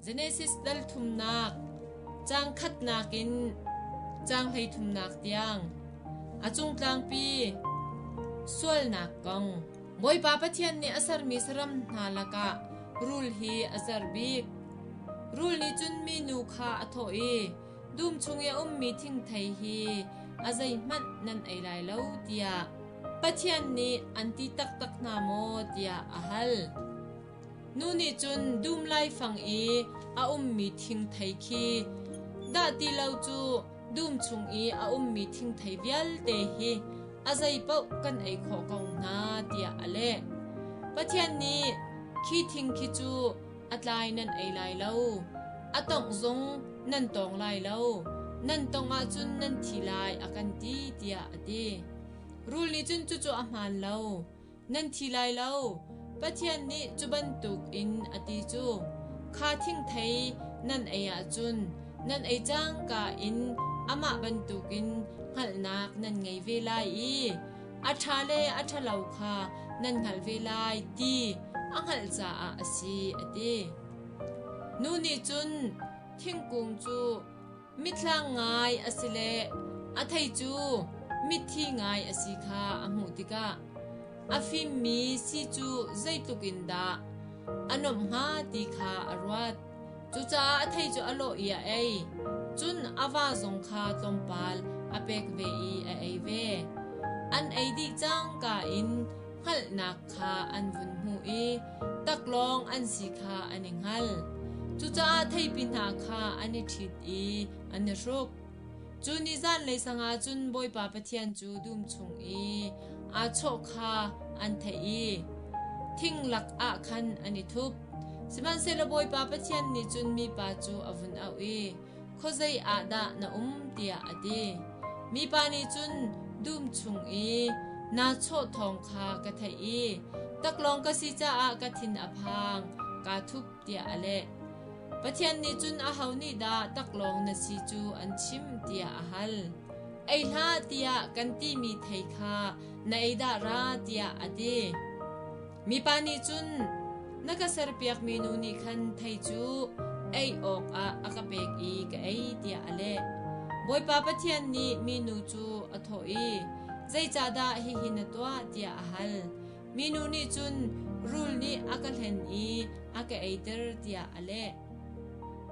Genesis dal thumnak caang khatnak in caang hleithumnak tiang a cung tlangpi sualnak kong Bawipa Pathian nih a sermi saram hna lakah rul hi a ser bik. Rul nih cun mi nu kha a thawh i, dum chung i a ummi thingthei hi a zeihmanh nan ei lai lo tiah Pathian nih an ti taktak hna maw tiah a hal. Nu nih cun dum laifang i a ummi thingthei khi dah ti lo cu dum chung i a ummi thingthei vialte hi a zeipaoh kan ei khawh ko hna tiah a leh. Pathian nih khi thing khi cu a tlai nan ei lai lo, a tongh zong nan tong lai lo, nan tong ahcun nan thi lai a kan ti tiah a ti. Rul nih cun cucu a hmaan lo. nan thi lai lo. Pathian nih cu bantuk in a ti cu, kha thingthei nan ei ahcun nan ei cangka in amah bantukin hngalhnak nan ngei ve lai i a ṭha le a ṭhalo kha nan hngalh ve lai ti a hngalh caah a si, a ti. Nu nih cun thingkung cu mitthlang ngai a si le a thei cu mitthi ngai a si kha a hmuh tikah a fimmi si cu zeitluk in dah a nuamh hnga ti kha a ruat. Cucaah a thei cu a lawh i a ei. Cun a va zong kha tlawmpal a pek ve i a ei ve. An ei dih cangka in hngalhnak kha an vun hmuh i taklawng an si kha an i hngal. Cucaah theipi hna kha an i ṭhit i an i hruk. Cu ni zan le sanga cun Bawipa Pathian cu dum chung i aa chawh kha an theih i thing lakah khan an i thup. Sihmanhsehlaw Bawipa Pathian nih cun mipa cu a vun auh i, khuazei ah dah na um tiah a ti. Mipa nih cun dum chung i naa chawh thawng kha ka theih i taklawng ka si caah ka thin a phang kaa thup tiah a leh. Pathian nih cun aho nih dah taklawng na si cu an chim tiah a hal. Ei hlah tiah kan timi thei kha na ei dah ra tiah a ti. Mipa nih cun na ka serpiakmi nu nih khan thei cu ei awkah a ka pek i ka ei tiah a leh. Bawipa Pathian nih minu cu a thawh i, Zeicahdah hihi na tuah tiah a hal. Minu nih cun rul nih a ka hlen i a ka eiter tiah a leh.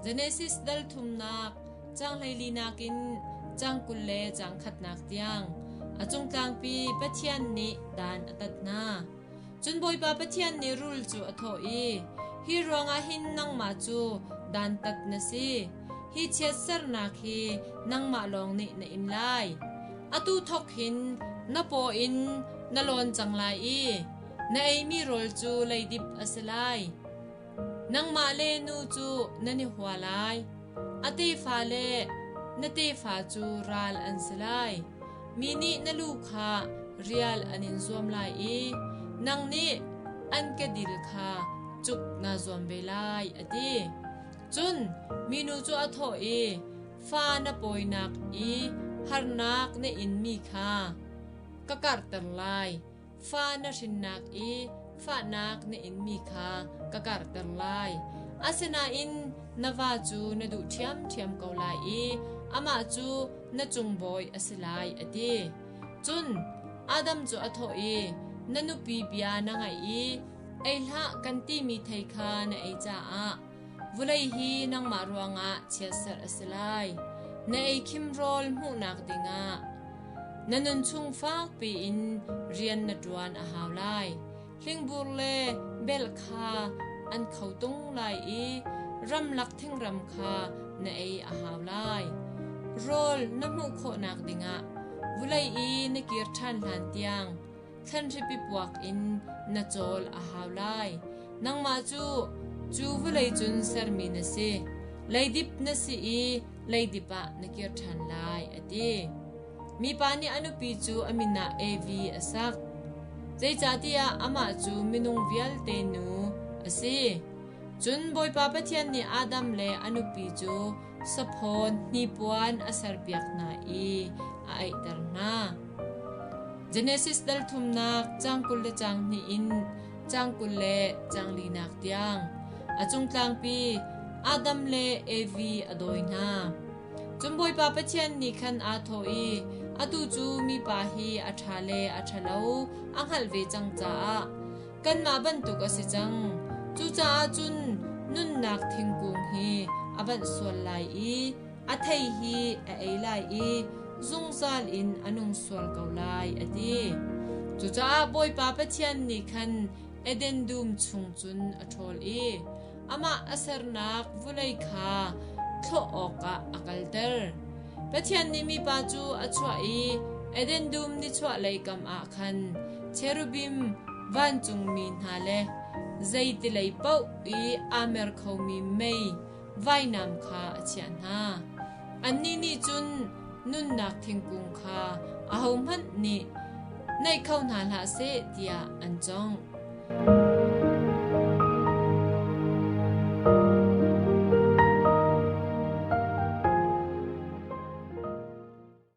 Genesis dal thumnak cang hleili nakin cang kul le cang khatnak tiang a cungtlangpi Pathian nih dan a tat hna. Cun Bawipa Pathian nih rul cu a thawh i, Hi ruangah hin nangmah cu dantat na si. Hi chiatsernak hi nangmah lawng nih na im lai. Atu thawk hin na paw in na lawn cang lai i na eimi rawl cu leidip a si lai. Nangmah le nu cu nan i hua lai. A tefa le na tefa cu ral an si lai. Mi nih na lu kha rial an in zuam lai i nang nih an kedil kha cuk naa zuam ve lai, a ti. Cun minu cu a thawh i, Fa na pawinak i harnak na inmi kha ka karhter lai. Fa na hrinnak i fahnak na inmi kha ka karhter lai. Asinain na va cu na duh ṭhiamṭhiam ko lai i amah cu na cung bawi a si lai, a ti. Cun Adam cu a thawh i, Na nupi bia na ngaih i ei hlah kan timi thei kha na ei caah Vulei hi nangmah ruangah chiatserh a si lai. Na eikhim rawl hmuhnak dingah na nunchung fakpi in rian na ṭuan a hau lai. Hlingbur le belh kha an kho tung lai i ramlak thingram kha na ei a hau lai. Rawl na hmuh khawhnak dingah vulei i na kir ṭhan hlan tiang thlanhripi puak in na cawl a hau lai. Nangmah cu cu vawlei cun sermi na si. Leidip na si i leidip ah na kir ṭhan lai, a ti. Mipa nih a nupi cu a min ah Evi a sak. Zeicahtiah amah cu minung vialte nu a si. Cun Bawipa Pathian nih Adam le a nupi cu saphawn hnipuan a serpiak hna i a aihter hna. Genesis dalthumnak cang kul le cang hnih in cang kul le cang linak tiang a cung tlangpi Adam le Evi a dawi hna. Cun Bawipa Pathian nih khan aa thawh i atu cu mipa hi a ṭha le a ṭhalo a hngalh ve cang caah kanmah bantuk a si cang. Cucaah cun nunnak thingkung hi a banh sual lai i a thei hi a ei lai i zungzal in a nung sual ko lai a ti. Cucaah Bawipa Pathian nih khan Eden dum chung cun a ṭhawl i amah a sernak vulei kha thlawh awkah a kalter. Pathian nih mipa cu a chuah i Eden dum nichuahlei kam ah khan cherubim vancungmi hna le zeitilei paoh i aa mer khomi mei vainam kha a chiah hna. Annih nih cun nunnak thingkung kha ahohmanh nih naih kho hna hlah seh tiah an cawng.